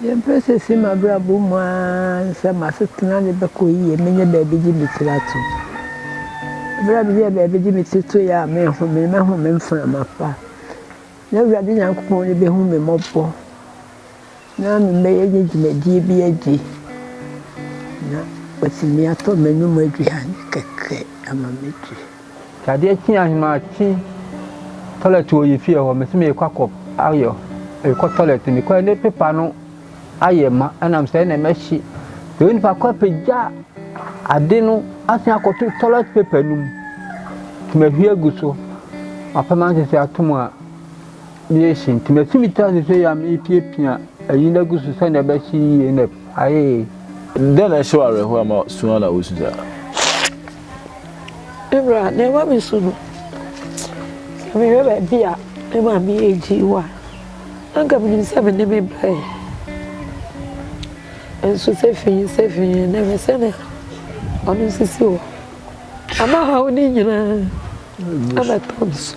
Yɛmpɛ sɛ ɛsi m'abrabɔ mu ann sɛ m'asetena de bɛkɔ yiye, menyɛ baabi gye me tiri atom. Bere a meyɛɛ baabi gye me tiri toe a menhome, na mahome mframa pa. Na Awurade Nyankopɔn ani behu me mmɔbɔ, na mebɛyɛ ne dwumadie bi adi, na watumi atɔ m'anom aduane kɛkɛ ama madi. Sɛ adeɛ kye a, memakye toilet wɔ yɛ fie hɔ, mese merekɔ akɔ ayɔ, merekɔ toilet, mekɔ ne pepa no ayɛ ma, ɛnam sɛ ɛna mɛhye. Sɛ wo nipa kɔ apagya ade no asan akɔto toilet paper no mu, nti mahwie agu so, mapɛ ma nsese atom a, meyɛhye. Nti masi me tira sese yɛ a merepiapia ayi no agu so sɛnea ɛbɛhye yie na ayɛ. Dɛn na ɛhyɛ wo awerɛhoɔ ama su ara na wosu saa? Me bra, nea ɛma me su no, sɛ mehwɛ baabi a me maame yɛ gyee wɔ a, na anka menim sɛ me ne me bra yi. Nso sɛ fi yi sɛ fi yi na ɛhwɛ sɛnea ɔno sisi hɔ. Ama haw ne nyinaa abɛtɔ me so.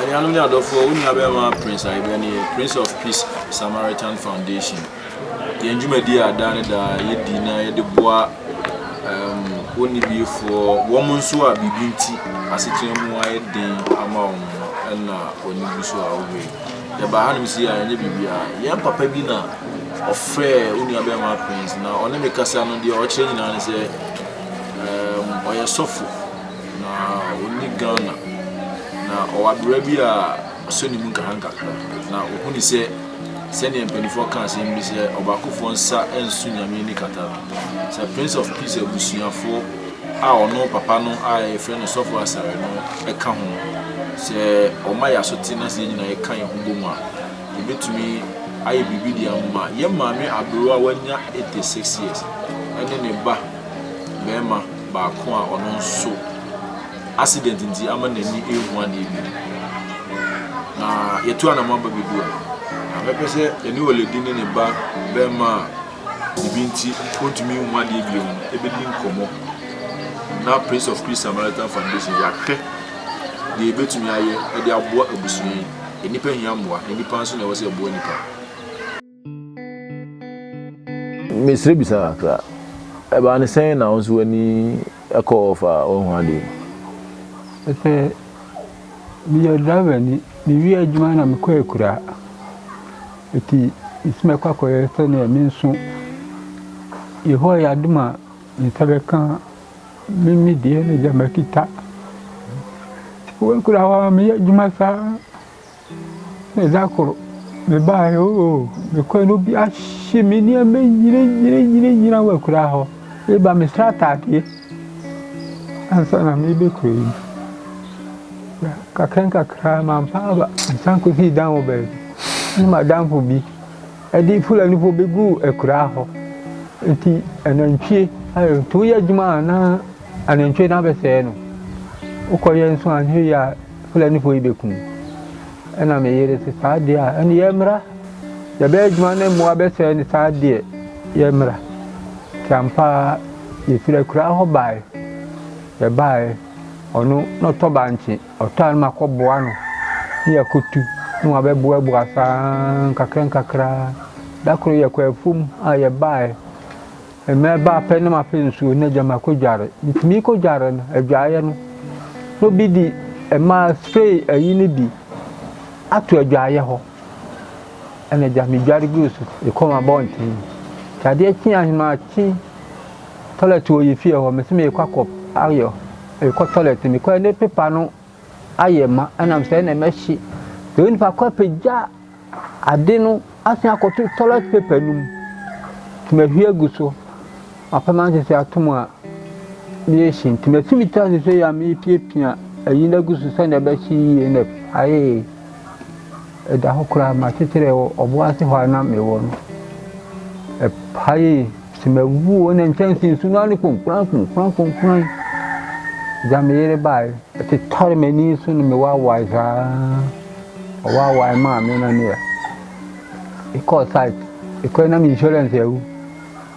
Anuanom ne adɔfoɔ, wo nua bɛrima Prince Ayebɛ ne yɛ Prince of Peace Samaritan Foundation. Yɛn dwumadie a daa ne daa yɛdi na yɛde boa um, wɔnnibiefoɔ, wɔn nso a biribi nti asetena mu ayɛ den ama wɔn no, ɛna wɔn ani gu so a wɔhwɛ yi. Yɛbaa hanom sei a, ɛnyɛ biribiara. Yɛn papa bi na ɔfrɛɛ wo nuabɛrima Prince, na ɔne me kasa no deɛ ɔkyerɛ nyinaa ne sɛ um, ɔyɛ sɔfo na ɔni Ghana, na ɔwɔ abera bi a ɔsɔ ne mu nkakrankakra, na ɔhuni sɛ sɛdeɛ mpanimfoɔ ka asɛm bi sɛ ɔbaakofoɔ nsa nso nyame ani kata no, sɛ Prince of Peace abusuafoɔ a ɔno papa no a yɛfrɛ no Sɔfo Asare no ka ho no, sɛ ɔma yɛn asote na sɛ yɛn nyinaa yɛka yɛn ho bom a, yɛbɛtumi ayɛ biribi de ama yɛn maame aberewa a wanya 86 years ne ne ba barima baako a ɔno nso accident nti ama n'ani rehu adeɛ bi no. Na yɛtu anamɔ aba bɛdu a, na mɛpɛ sɛ yɛne Oledi ne ne ba barima a Ebi nti ontumi nhu adeɛ bio no ɛbɛdi nkɔmmɔ na Prince of Peace Samaritan Foundation yɛahwɛ deɛ ɛbɛtumi ayɛ de aboa abusua yi. Nnipa hia mmoa na nnipa nso na ɛwɔ sɛ ɛboa nnipa. Mesrɛ bisa kakra, ɛbaa no sɛn na wo nso w'ani kɔɔ fa w'ahu adeɛ yi? Meyɛ driverni, mewie adwuma na mekɔ akuraa. Eti nti mɛkɔ akɔyɛ sɛnea me nso Yehowa yɛ adom a me nsa bɛka me me deɛ ne deɛ makita. Wɔ akuraa hɔ a meyɛ adwuma saa na ɛda koro mebaeɛ oo mekɔɛ na obi ahye me nneɛma nyinaa nyinaa nyinaa wɔ akuraa hɔ. Meba mesrɛ ataadeɛ. Ansa na merebɛkɔ yi, nkakrankakra mampa aba, mesan kɔsii dan wɔ baabi. Ɛna m'adamfo bi de Fulanifo bɛguu akuraa hɔ. Nti anantwie, nti woyɛ adwuma a na anantwie no abɛsɛe no. Wokɔyɛ nso anyɛ yie a Fulanifo yi bɛkum. Ɛna me yere se, saa deɛ a, ɛne yɛmmra, yɛbɛyɛ adwuma ne mmoa bɛsɛe ne saa deɛ, yɛmmra. Nti ampa ara yɛfiri akuraa hɔ baae. Yɛbaae, ɔno na ɔtɔ bankye, ɔtɔ a na makɔboa no, ne yɛakɔtu, ne wabɛboaboa saa ara nkakrankakra. Da koro yɛkɔɔ afuom a yɛbaae. Mɛba apɛ na mapɛ nsuo na agya makɔ dware. Metumi kɔ dware no, adwaeɛ no, na obi di ɛmaa spray ayi no bi ato adwaeɛ hɔ. Ɛna agya medware gu so, ɛkɔm abɔnten. Nti adeɛ kye ahema akye toilet wɔ yɛ fie hɔ, mese mekɔ akɔ ayɔ, mekɔ toilet, mekɔ ne pepa no ayɛ ma, ɛnam sɛ ɛna mɛhye. Sɛ onipa kɔ apagya Ade no asan akɔto toilet paper no mu. Nti mahwie agu so. Mapam ansese atom a merehyɛ nti masi me ti ansese yi a merepiapia ayi no agu so sɛnea ɛbɛhyɛ yie na ayɛ ɛda hɔ koraa makyekyere wɔ ɔbo ase hɔ a na mewɔ no ɛpa yie sɛ mawu o na nkyɛnse nsu no ano konkuran konkuran konkuran gya me yere baeɛ ɛtetare m'ani so no mewawae saa Ɔwaawae maa me na meyɛ mekɔɔ site mekɔɛ na me insurance awu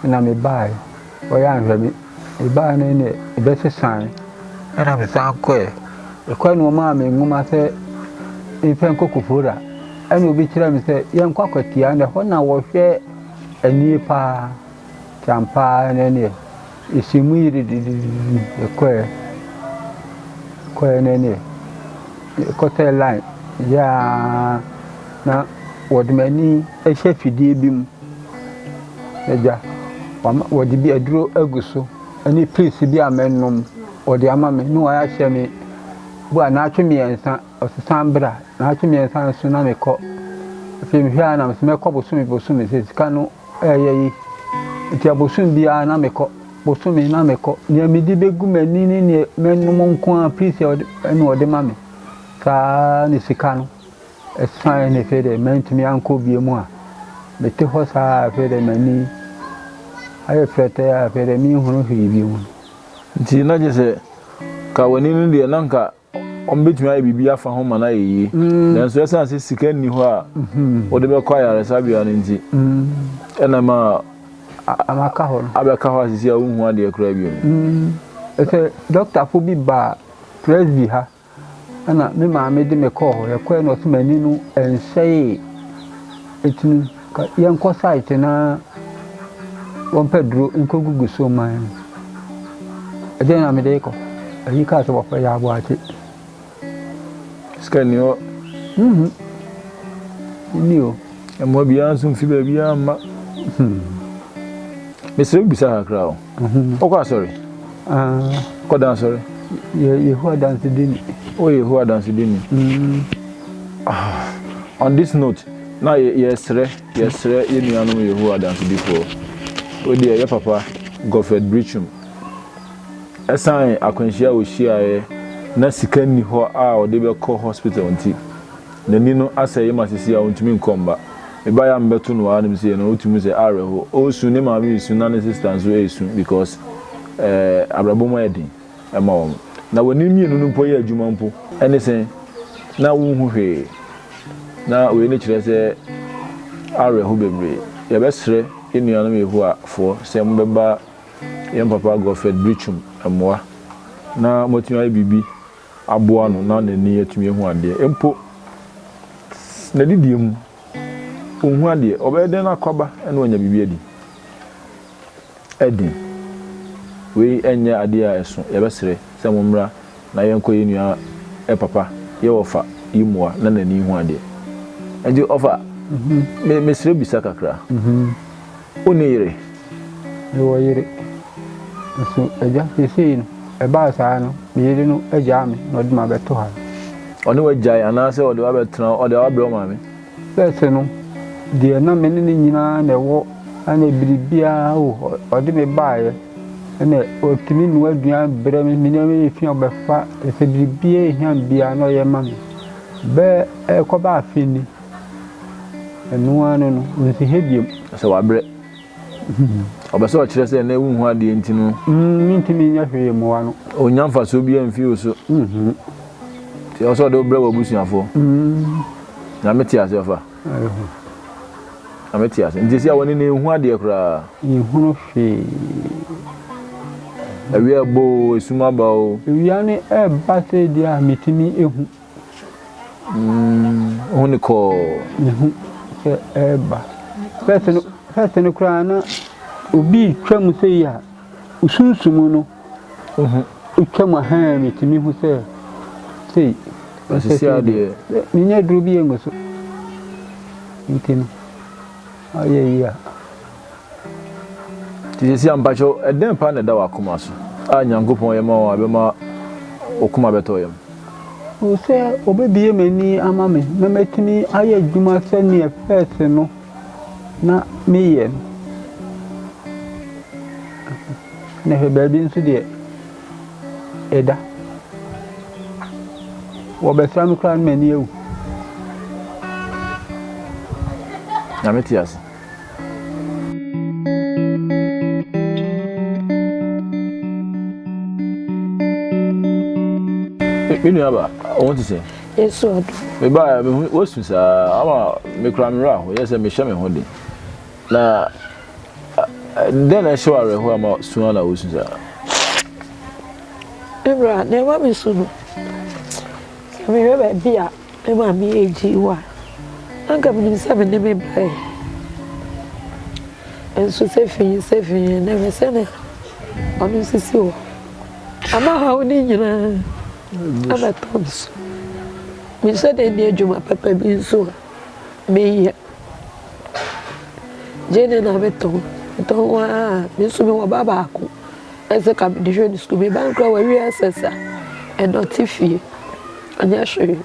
na mebaeɛ ɔyɛ anhwɛ me mebaeɛ no ne ɛbɛsesae ɛna mesan kɔɛ ɛkɔɛ na ɔmaa me nwoma sɛ mfɛ nkɔ kofora ɛna obi kyerɛ me sɛ yɛnkɔ akwatia na ɛhɔ na wɔhwɛ anie paa kyampaa ne neɛ Ehyɛ mu yiri didididi, ekɔɛ, ekɔɛ na ɛneɛ, ɛkɔtɛɛ line yɛ ara na wɔde m'ani hyɛ fidie bi mu, agya, wama wɔde bi aduro agu so ɛne pills bi a mɛnom, wɔde ama me na wɔayɛ ahyɛ me bu a naatwe mmiɛnsa, ɔse san bra, naatwe mmiɛnsa nso na mekɔ, afei mehwɛ a na mese mɛkɔ bosome bosome, sɛ sika no Ɛyɛ yi. Enti abosom biara na mekɔ. Bosome na mekɔ. Nea mede bɛgu m'ani ne nea mɛnom nko ara piisi na wɔde ma me. Saa ne sika no. Ɛsan ne fɛ dɛ mantumi ankɔ bie mu a. Mete hɔ saa a fɛ dɛ m'ani ayɛ frɛtɛɛ a fɛ dɛ menhunu hwee bio. Nti na gye sɛ ka w'ani no deɛ na nka. Wɔbɛtumi ayɛ biribi afa ho ma no ayɛ yie, nanso ɛsiane sɛ sika nni hɔ a wode bɛkɔ ayaresabea no nti, ɛna ɛma abɛka hɔ no abɛka hɔ a sisi a wonhu adeɛ koraa bio. Ɛsɛ dɔktafo bi baa Presby ha, ɛna me maame de me kɔɔ hɔ. Yɛkɔɛ no ɔse m'ani no ɛnsɛee, ɛtumi. Yɛnkɔ site na wɔmpɛ duro nkɔgugu so mma yɛn. Ɛdeɛ na mede rekɔ. Ayi kaa sɛ wɔfrɛ yɛ aboakye. Sika ni hɔ. Mhm. Ni o. Mmoa biara nso mfi baabiara mma. Hmm. Mesrɛ bisa kakra o. Wokɔ asɔre? Kɔ da asɔre? Yɛ Yehowa dansedini. Woyɛ Yehowa dansedini? Mm. Ah, on this note, na yɛsrɛ yɛsrɛ yɛn nuanom Yehowa dansedifoɔ. Wodeɛ yɛ papa Godfred Brichum. Ɛsan akwanhyia a wɔhyiaeɛ na sika nni hɔ a ɔde bɛkɔ hospital nti. N'ani no asɛe ma seesei a ontumi nkɔ mma. Mebae a mebɛto no ara na mise yɛ no wotu mu sɛ awerɛhow. Ɔresu, ne maame resu na ne sista nso resu because eh abrabɔ mu ayɛ den ma wɔn. Na w'ani mmienu no mpo yɛ adwuma mpo. Ɛne sɛ na wonhu hwee. Na wei ne kyerɛ sɛ awerɛhow bebree. Yɛbɛsrɛ yɛn nuanom Yehowafoɔ sɛ mobɛba yɛn papa Godfred Britschum mmoa na moatumi ayɛ biribi aboa no na n'ani atumi ahu adeɛ mpo n'adidie mu, ɔnhu adeɛ, ɔbɛyɛ dɛn na akɔaba na wanya biribi adi? Ɛden. Wei nyɛ adeɛ a ɛso, yɛbɛsrɛ sɛ mommra na yɛnkɔ yɛn nua papa yɛ ɔfa yi mmoa na n'ani nhu adeɛ. Nti ɔfa, mesrɛ bisa kakra. Wonni yere? Mewɔ yere. Nanso agya, seesei no, ɛbaa saa no, me yere no agyaa me na ɔde me abɛto ha. Ɔne wo agyae anaasɛ ɔde wo abɛtena hɔ? Ɔde wo abrɛ wo maame? Sɛsɛ no, deɛ na me ne no nyinaa na ɛwɔ, ɛna biribiara o, ɔde me baeɛ, ɛna ɔtumi noa aduan brɛ me, me nneɛma yɛ fi a ɔbɛfa, ɛsɛ biribiara ɛhia me biara na ɔyɛ ma me. Bɛɛ ɛkɔba afe ni. Ɛno ara ne no, onsi ha biom. Sɛ wabrɛ. Ɔpɛ sɛ ɔkyerɛ sɛ nnɛ wunhu adeɛ nti no. Mentumi nyɛ hwee mmoa no. Ɔnnya mfasoɔ biara mfiri wo so. Nti ɛwɔ sɛ ɔde wo brɛ w'abusuafoɔ. Nyame te aseɛ fa. Nyame te aseɛ. Nti sɛ wɔne no ɛnhu adeɛ koraa. Ɛnhunu hwee. Awia ɛbɔ o, esum aba o. Awia no ɛba sɛ deɛ a metumi ɛhu. Ɔhu no kɔɔ. Mehu sɛ ɛreba. Fɛs no fɛs no koraa na obi retwa mu sɛ yi a sunsum no retwa mu ahan metumi hu sɛ sei. Asisi adeɛ. Menyɛ duro bi yɛ ngu so. Nti no ayɛ yi a. Nti sesia mpakyɛw ɛdɛn paa na ɛda wakoma so a Nyankopɔn yɛ ma wo a ɛbɛma wo koma bɛtɔ yam? Hu sɛ obebue m'ani ama me na matumi ayɛ adwuma sɛdeɛ pɛɛse no na meyɛ no. Na hwɛ baabi nso deɛ ɛda. Wɔbɛsra me koraa na m'ani awu. Nyame te ase. me nua ba wɔn ti sɛ. yesu ɔdɔ. meba mi hu wosu saa ama mi kura mi wura ho yɛ sɛ mi hyɛ mi ho de na dɛn na ɛhyɛ wɔ awerɛho ama sua na wosu saa. ewura na ɛma mi su no Sɛ mehwɛ baabi a me maame agyei wɔ a, anka menim sɛ me ne me ba ɛ. Nso sɛ fi yi sɛ fi yi na hwɛ sɛnea ɔno nso si hɔ. Ama haw ne nyinaa abɛtɔ me so. Mehyɛ dɛ ni adwuma papa bi nso a meyɛ. Gyeene na metɔn, metɔn ara a, me nso mewɔ ba baako. Ɛsɛ ka mede hwɛ ne sukuu me ba no koraa wawie SS a ɛdɔte fie ɔnyɛ hwee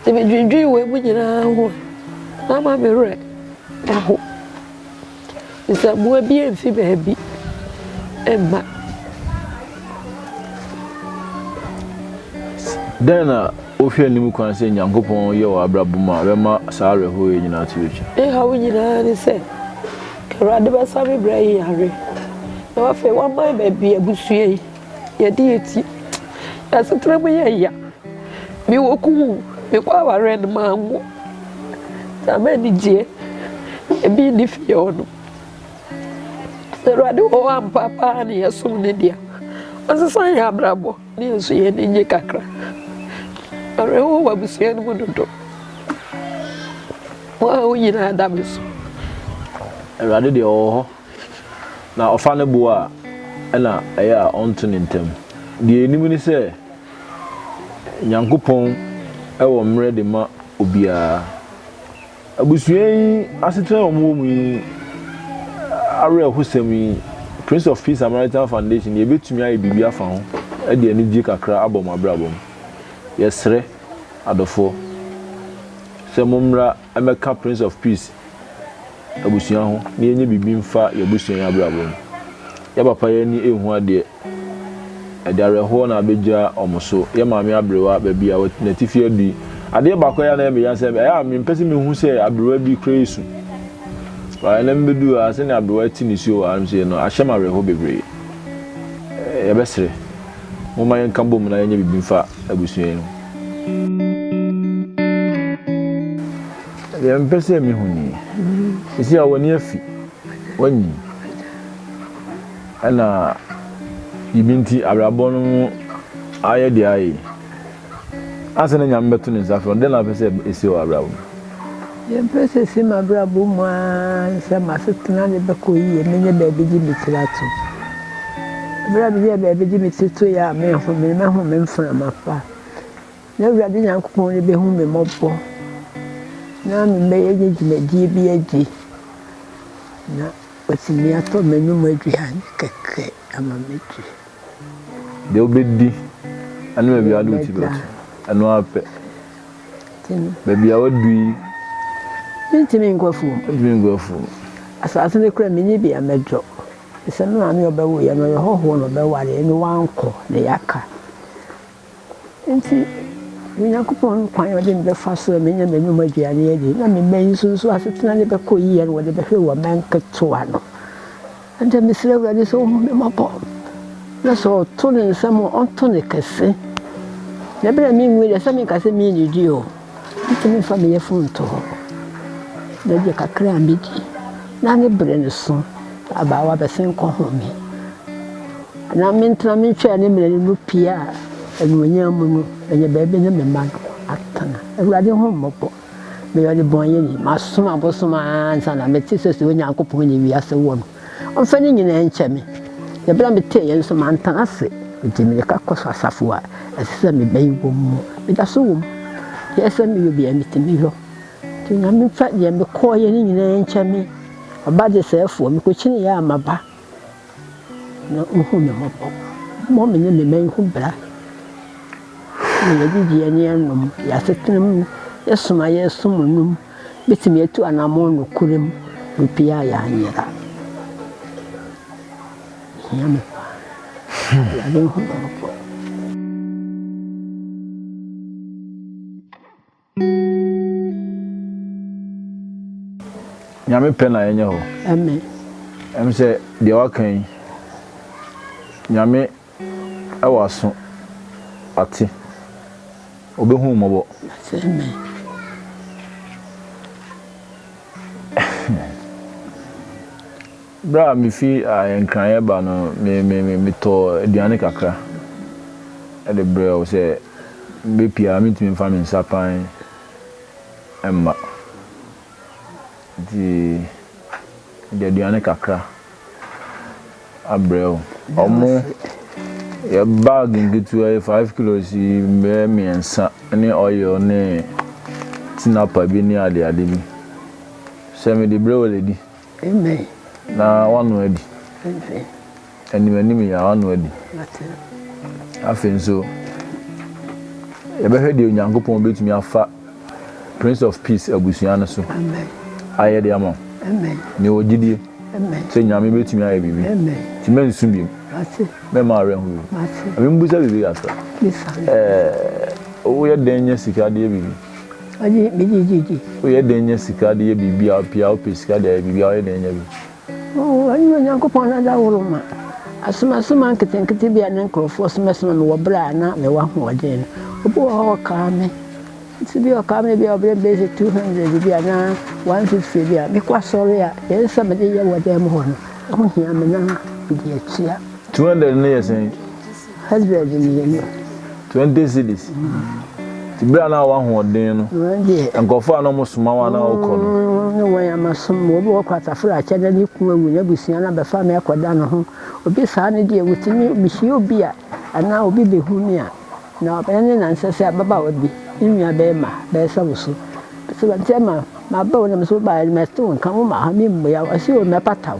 nti medwendwen wei mu nyinaa ho a na ama me werɛ ɛho sɛ mmoa bi mfi baabi mma dɛn na wohwɛ anim kwan sɛ nyankopɔn yɛ wɔ abrabɔ mu a bɛma saa awerɛhoɔ yɛ nyinaa to atwa ne haw nyinaa ne sɛ Awurade bɛsa me brɛ yi yare na wafei waman baabi abusua yi yɛde yɛ ti yɛasetena mu yɛ ya me wɔ kuwu me kɔ awareɛ no ma anwo na ma anigyeɛ ebi nni fie hɔ no sɛ Awurade wɔ hɔ ampa paa ne yɛsom ne dea ɔnsesa yɛ abrabɔ Yɛn nso yɛn ani nye kakra. Awerɛhow wɔ abusua no mu dodo. Mo a wo nyinaa da me so. Awurade deɛ ɔwɔ hɔ. Na ɔfa no boɔ a, ɛna ɛyɛ a ɔnto ne ntam. Deɛ yɛnim ne sɛ, Nyankopɔn wɔ mmerɛ de ma obiara. Abusua yi asetena a wɔwɔ mu yi awerɛhosɛm yi, Prince of Peace Samaritan Foundation deɛ yɛbɛtumi ayɛ biribi afa ho de anigyeɛ kakra abɔ mo abrabɔ mu. Yɛsrɛ adɔfoɔ sɛ mommra mmɛka Prince of Peace abusua ho na yɛnyɛ biribi mfa yɛn abusua yi abrabɔ mu. Yɛn papa yi ani nhu adeɛ. Ɛde awerɛhoɔ na abɛgya wɔn so. Yɛ maame aberewa baabi a n'atifi adu yi, adeɛ baako a ɛyɛ a na ɛyɛ me ya sɛ, ɛyɛ a mempɛ sɛ mehu sɛ aberewa bi kura esu. Wɔ ɛnnɛ mebɛduu ha, sɛdeɛ aberewa ti nisuo wɔ ha nom sei no, ahyɛ me awerɛhoɔ bebree. Yɛbɛsere. Momma yɛnka bom na yɛnyɛ biribi mfa abusua yi ho. Deɛ mepɛ sɛ mehu nie. Seesei a w'ani afi. Woanyin. Ɛna biribi nti abrabɔ no mu ayɛ deɛ ayɛ yi. Ansa na Nyame bɛto ne nsa frɛ wo no, dɛn na wopɛ sɛ ɛsi wɔ abrabɔ mu? Deɛ mepɛ sɛ ɛsi m'abrabɔ mu ara ne sɛ m'asetena no bɛkɔ yie, mɛnya baabi gye me tiri ato. Berɛ a menya baabi gye me tiri to yɛ a, mɛhome, mɛhome mframa pa. Na Awurade Nyankopɔn no bɛhu me mmɔbɔ, na mɛnya dwumadie bi agye. Na. Watumi atɔ m'anom aduan kɛkɛ ama madi. Deɛ wobɛdi ne baabi a wode wo ti bɛto, ɛno ara pɛ. Baabi a woadu yi. Mentumi nkɔ afuom. Mentumi nkɔ afuom. Asase no kura menni bea mɛdɔ. Sɛ me maame a ɔbɛwoeɛ no ɔyɛ hɔhoɔ na ɔbɛwareɛ no wankɔ na yɛaka. Enti Onyankopɔn kwan a ɔde me bɛfa so a menya m'anom aduane adi na me mma yi nso so asetena no bɛkɔ yiye no, wɔde bɛhwɛ wɔn mma nketewa no. Ɛnde mesrɛ Awurade sɛ ɔnhu me mmɔbɔ, na sɛ ɔto ne nsam a, ɔnto no kɛse. Na bere a minwui deɛ, ɛsɛ sɛ meka sɛ minnidi o. Metumi fa me yafunu to hɔ, na gye kakra a medi, na ne bere no so abaawa bɛsen kɔhome. Anaa mentena me ntwea ne mene no pia a anuonyam mu no, ɛyɛ baabi na me mma no atena. Awurade, hu me mmɔbɔ, meyɛ ɔdebɔneyɛni, masom abosom ara ansa na mete sɛ sɛ Onyankopɔn ne wiase wɔ no. Ɔmfa ne nyinaa nkyɛ me. Na bere a metee eyi nso, mantena ase. Enti mireka kɔ asafo a ɛsɛ sɛ mebɛn wɔn mu. Meda so wom. Ɛyɛ sɛ meyɛ obi a mitumi yɔ. Enti Onyame mfa nea mekɔeɛ no nyinaa nkyɛ me. Ɔba desɛefoɔ, mekɔkyineeɛ a maba, na ɔhu me mmɔbɔ. Ɔmmɔ me ne me man ho bra. Yɛn adidie ne yɛn nom, yɛn asetena mu, yɛn som a yɛsom nom. Betumi atu anammɔn nokorɛ mu, obiara yɛ anyera. Hia me paa. Awurade nhu me mmɔbɔ. Nyame pɛ na yɛnyɛ hɔ. Amen. Ɛm sɛ deɛ waka yi, Nyame W'aso ate, obehu wo mmɔbɔ. Afei me Berɛ a mefi Nkran reba no, metɔɔ aduane kakra de brɛɛ wo sɛ mɛpue a mentumi mfa me nsa pan mma. Nti mede aduane kakra abrɛ wo. Ɔmo yɛ bag nketewa yi five kilos yi bɛyɛ mmiɛnsa ne oil ne tinapa bi ne ade ade bi. Sɛ mede brɛ wo lady. Amen. Na wano adi. Amen. Anim anim yɛ wano adi. Afei nso yɛbɛhwɛ deɛ Onyankopɔn betumi afa Prince of Peace abusua no so ayɛ de ama wo. Nea ɔwɔ gyidie sɛ Nyame bɛtumi ayɛ biribi nti mɛnsu biom, mɛmma awerɛho biom. Na membusa biribi kakra, ɛɛ woyɛ dɛn nya sika de yɛ biribi? Woyɛ dɛn nya sika de yɛ biribi a pii a wopɛ sika de ayɛ biribi a woyɛ dɛn nya bi? Oo, ɛnyɛ Onyankopɔn na ɔde ahoro ma. Asomasoma nketenkete bi a na nkurɔfoɔ somasoma me wɔ berɛ a na mewɔ ahoɔden no, obi wɔ hɔ a ɔkaa me. Nso bi a ɔkaa me bi a ɔbrɛ me bɛsi 200 bi anaa 150 bi a, mekɔ asɔre a, deɛ ɛsɛ sɛ mede yɛ wɔ dan mu hɔ no, ɛho hia me na mede atua. 200 no yɛ sɛn? Husband no yɛ no. Twenty cities. Ti bere a na wahoɔden no. Nkurɔfoɔ a na wɔn soma wɔn a na wɔkɔ no. Ne wɔn ama som mu. Obi wɔ kɔ asafo na akyɛ dɛ ne kun awu na abusua na bɛfa me ɛkɔ da ne ho. Obi saa no deɛ wotumi mehyia obi a anaa obi behu me a na ɛne na nsɛ sɛ ababaawa bi ne nua bɛɛma bɛɛsa wo so. Sɛ ma sɛ ma ma bɛ wo na me so baayɛ no mɛte wo nka wo ma ha me mmua wo ɔsi o mɛpata wo.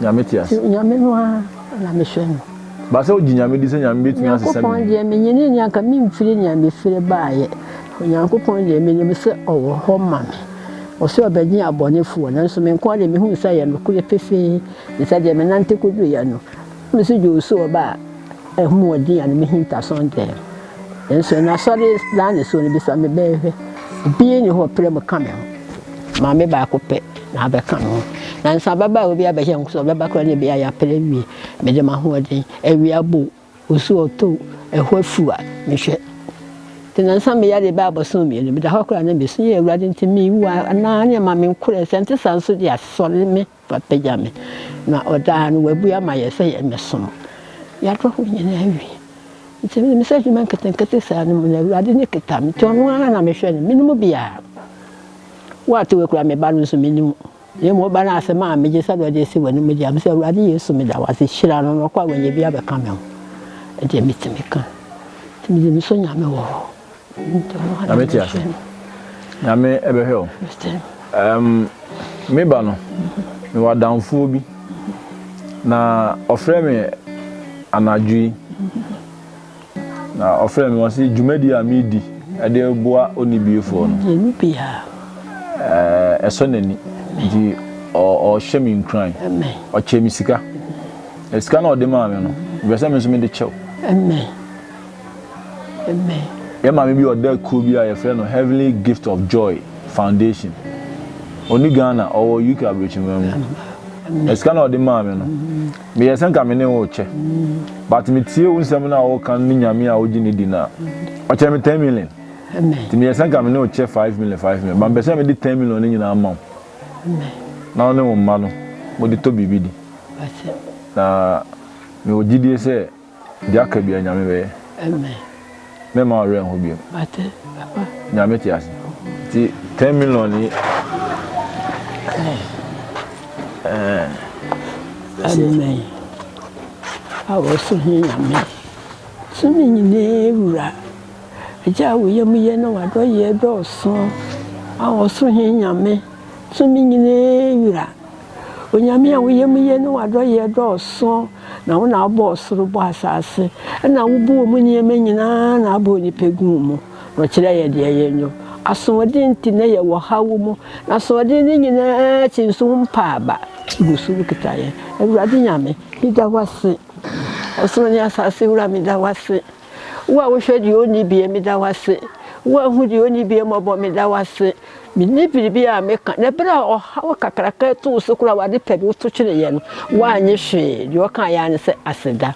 Nyame te ase. Nyame no ara na mehwɛ no. Ba sɛ wogye Nyame di sɛ Nyame bɛtumi asesa biribi. Nyankopɔn deɛ menyini ni anka memfiri nea mefiri baeɛ. Onyankopɔn deɛ menim sɛ ɔwɔ hɔ ma me. Ɔse ɔbɛgye abɔnefoɔ nanso me nkoa deɛ mehunu sɛ ɛyɛ nokorɛ pefee ne sɛdeɛ menante kɔduruiɛ no. Mesu dwoo so ɔbaa ahummɔden a ne mehintasoɔ ntɛm. Nso na sɔre gyina ne so no bisa me bɛn hwɛ. Obi nni hɔ ɔpere mu ka me ho. Maame baako pɛ na abɛka me ho. Nanso ababaawa bi abɛhyɛ nko sɛ ɔbɛba koraa na ebi ayɛ apere awie. Mede m'ahoɔden, awia bɔ o, osu a ɔtɔ o, ɛhɔ afuw a, mehwɛ. Nti na nsa me yare bɛyɛ abɔso mmienu. Meda hɔ koraa na mesu, Ee Awurade, nti mewu anaa? Nea ɛma menkorɛ, sɛ ɛnte saa nso de a, sɔre me. Wapagya me, na ɔdaa no wabue ama yɛn sɛ yɛmmɛsom. Yɛadɔ hɔ nyinaa awie. Nti menim sɛ adwuma nketenkete saa no mu no, Awurade no kita me. Nti ɔno ara na mehwɛ no, menni mu biara. Wo a te wei koraa, me ba no nso, menni mu. Na mmom wo ba no ara asɛm a megye sɛ na ɔde asi w'anom deɛ, mese, Awurade Yesu, meda wo ase. Hyira no na ɔkɔ a wanya bi abɛka me ho. Ɛdeɛ mɛtumi ka. Nti mede me so Nyame wɔ hɔ. Nyame te ase. Nyame ɛbɛhwɛ o. Um, me ba no, me wɔ adamfoɔ bi. Na ɔfrɛ me anadwo yi. Na ɔfrɛ me wɔse dwumadi a medi ɛde boa onibiefoɔ no. Yɛni biara. Eh, ɛsɔ n'ani. Nti ɔhyɛ me nkuran. Ɔkyɛ me sika. Sika na ɔde maa me no, mepɛ sɛ me nso mede kyɛw. Amen. Amen. Yɛn maame bi ɔda kuo bi a yɛfrɛ no Heavenly Gift of Joy Foundation. Ɔni Ghana, ɔwɔ UK Abrokyiman mu. Na sika no a ɔde maa me no, meyɛ sɛ nka me ne wo rekyɛ. But metie wo nsɛm no a woka no ne Nyame a wogye no di no a, ɔkyɛɛ me ten million. Nti meyɛ sɛ nka me ne wo kyɛ five million five million. But mepɛ sɛ mede ten million no nyinaa ma wo. Na wo ne wo mma no mode tɔ biribi di. Na mewɔ gyidie sɛ. Deɛ aka biara Nyame bɛyɛ. Amen. Mɛma wo werɛ nho biom. Mate papa. Nyame te ase. Nti ten million yi. Amen. A wɔso he Nyame. So ne nyinaa wura. Agya a woyɛ mu yɛ na wadɔyɛ dɔɔso. A wɔso he Nyame. So ne nyinaa wura. Onyame a wo yamu ye ne w'adɔyɛ dɔɔso, na wo na wobɔɔ ɔsoro, bɔɔ asase, ɛna wobuu ɔmo nneɛma nyinaa na abɔ onipa guu mu, na ɔkyerɛɛ yɛ deɛ yɛnyɔ. Asoɔden nti na yɛ wɔ haw mu, na asoɔden no nyinaa akyi nso wo mpa aba, wogu so wo kita yɛ. Awurade Nyame, me da wo ase, ɔsoro ne asase wura me da wo ase. Wo a wohwɛ deɛ ɔnni bie, meda wo ase. Wo a wohu deɛ ɔnni bie mmɔbɔ, meda wo ase. Menni biribi a meka. Na berɛ a ɔhaw kakraka yi too so koraa, w'ade pa bi woto kyereeɛ no, woannye hwee. Deɛ ɔkaeɛ ara ne sɛ, Aseda.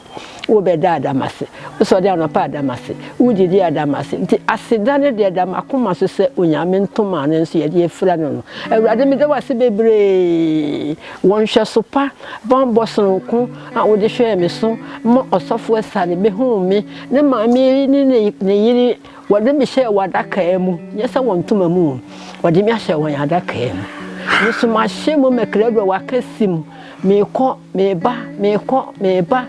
Wobɛda a, da m'ase. Wosɔre anɔpa a, da m'ase. Wodidi a, da m'ase. Nti aseda no deɛ, ɛda m'akoma so sɛ Onyame ntoma a ne nso yɛde afira no no. Awurade, meda wo ase bebree. Wo nhwɛso pa, banbɔ sononko. a wode hwɛɛ me so ma ɔsɔfo asiane behuu me, ne maame ne ne yere, wɔde me hyɛɛ w'adakaa mu, nyɛ sɛ wɔn ntoma mu, wɔde me ahyɛ wɔn adakaa mu. Me nso mahyɛ mu mɛkradura w'akɛse mu, meekɔ, meeba, meekɔ, meeba.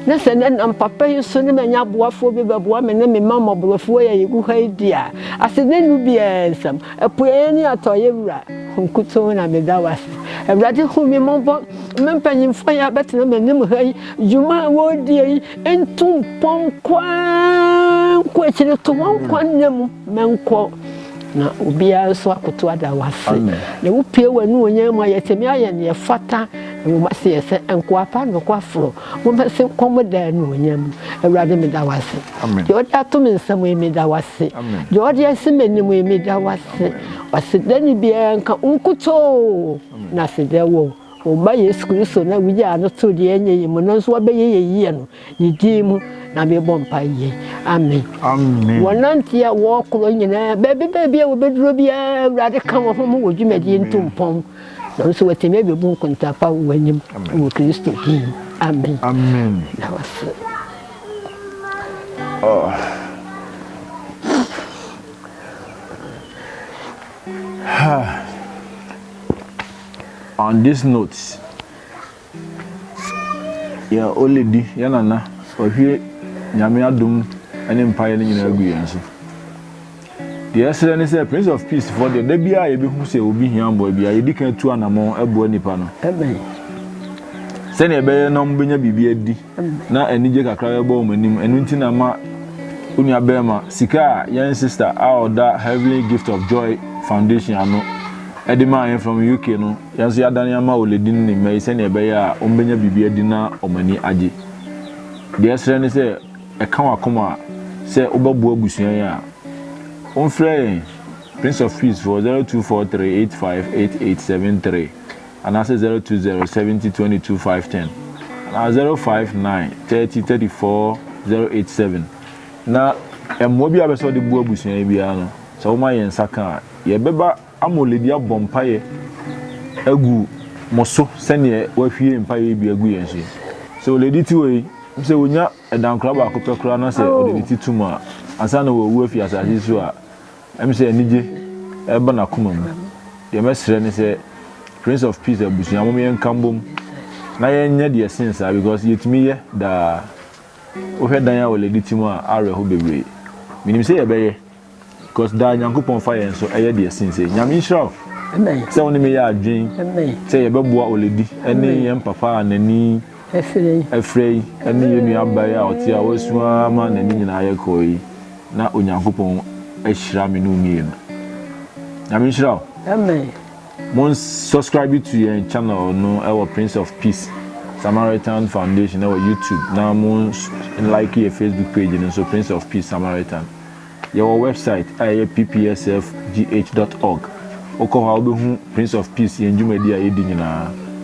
Na sɛ nnɛ nam papa yi so ne manya aboafoɔ bi bɛboa me ne me mma mmɔborɔfoɔ yi a yɛgu ha yi di a, ase ne nu biara nsam. Apueɛ ne atɔeɛ Wura, Wo nkutoo na meda wo ase. Awurade hu me mmɔbɔ, Me mpanyimfoɔ yi a bɛtena m'anim ha yi, dwuma a wɔredie yi, ntu mpɔn nkɔ ara nkɔ akyire, to wɔn nkwa nna mu ma nkɔ, na obiara nso akoto ada wo ase. Amen. Na wopue w'anuonyam mu a yɛtumi ayɛ neɛ ɛfata, na wɔn ase yɛ sɛ nkoa pa nokwafoɔ. Mobɛse nkɔm daa anuonyam. Awurade meda wo ase. Deɛ ɔde ato me nsam yi meda wo ase. Deɛ ɔde asi m'anim yi meda wo ase. Aseda ne biara nka wo nkutoo na aseda wɔ wo Ba Yesu Kristo no a wogyaa no too deɛ ɛnyɛ yi mu no nso wabɛyɛ yɛn yie no ne din mu na mebɔ mpae yei. Amen. Wɔnante a wɔkorɔ nyinaa, baabi baabi a wɔbɛduro biara, Awurade ka wɔn ho ma wɔ dwumadie ntumpɔn. Nanso watumi abebu nkontaa pa wɔ w'anim wɔ Kristo din. Amen. Amen. Na wase. Oh. Ha. On this note. Yɛ ole di yɛ nana wahwie nyame adom ne mpaeɛ no nyinaa agu yɛn so deɛ ɛsrɛ ne sɛ prince of peace foɔ deɛ da biara yɛbɛhu sɛ obi hia mboa biara yɛdi kan tu anamɔ ɛboa nipa no sɛdeɛ ɛbɛyɛ na ɔmobɛnya biribi adi na anigye kakra bɛbɔ wɔn anim. Ɛno nti na ma onua bɛrima sika a yɛn sista a ɔda Heavenly Gift of Joy Foundation ano de maa yɛn from UK no, yɛn nso yɛadane ama Oledi ne ne mma yi sɛnea ɛbɛyɛ a wɔbɛnya biribi adi na wɔn ani agye. Deɛ ɛsrɛ ne sɛ, ɛka w'akoma a, sɛ wobɛboa abusua yi a, womfrɛ yɛn Prince of Peace foɔ 0243 85 8873. anaasɛ zero two zero seventy twenty two five ten anaa zero five nine thirty thirty four zero eight seven na mmoa bi a bɛsɛ ɔde bu abusua yi biara no sɛ wɔma yɛn nsa ka a yɛbɛba ama oledi abɔ mpaeɛ agu mo so sɛdeɛ wahwie mpaeɛ bi agu yɛn so yi sɛ oledi ti wɔ yi sɛ onya ɛdankora baako pɛ koraa na sɛ ɔde ne ti tum a ansa na wɔwu afi asase so a Ɛm sɛ anigye reba n'akoma mu. Deɛ mɛsrɛ ne sɛ Prince of Peace abusua mom yɛnka mbom na yɛnyɛ deɛ ɛsen saa because yɛtumi yɛ daa. Wohwɛ dan a wɔ Lediti mu a awerɛho bebree. Menim sɛ yɛbɛyɛ because daa Nyankopɔn fa yɛn so yɛ deɛ ɛsen sei. Nyame nhyira wo sɛ wo ne me yɛ adwen sɛ yɛbɛboa Oledi ne yɛn papa a n'ani afira yi ne yɛn nua Abae a ɔte a wasu ara ma n'ani nyinaa yɛ kɔɔ yi. Na Onyankopɔn ahyira me ne wo mmienu. Nyame nhyira wo. Amen. Mon subscribe to yɛn channel no ɛwɔ Prince of Peace Samaritan Foundation ɛwɔ YouTube na mon like yɛ Facebook page no nso Prince of Peace Samaritan. Yɛwɔ website a ɛyɛ ppsfgh.org. Wokɔ hɔ a wobɛhu Prince of Peace yɛn dwumadi a yɛdi nyinaa.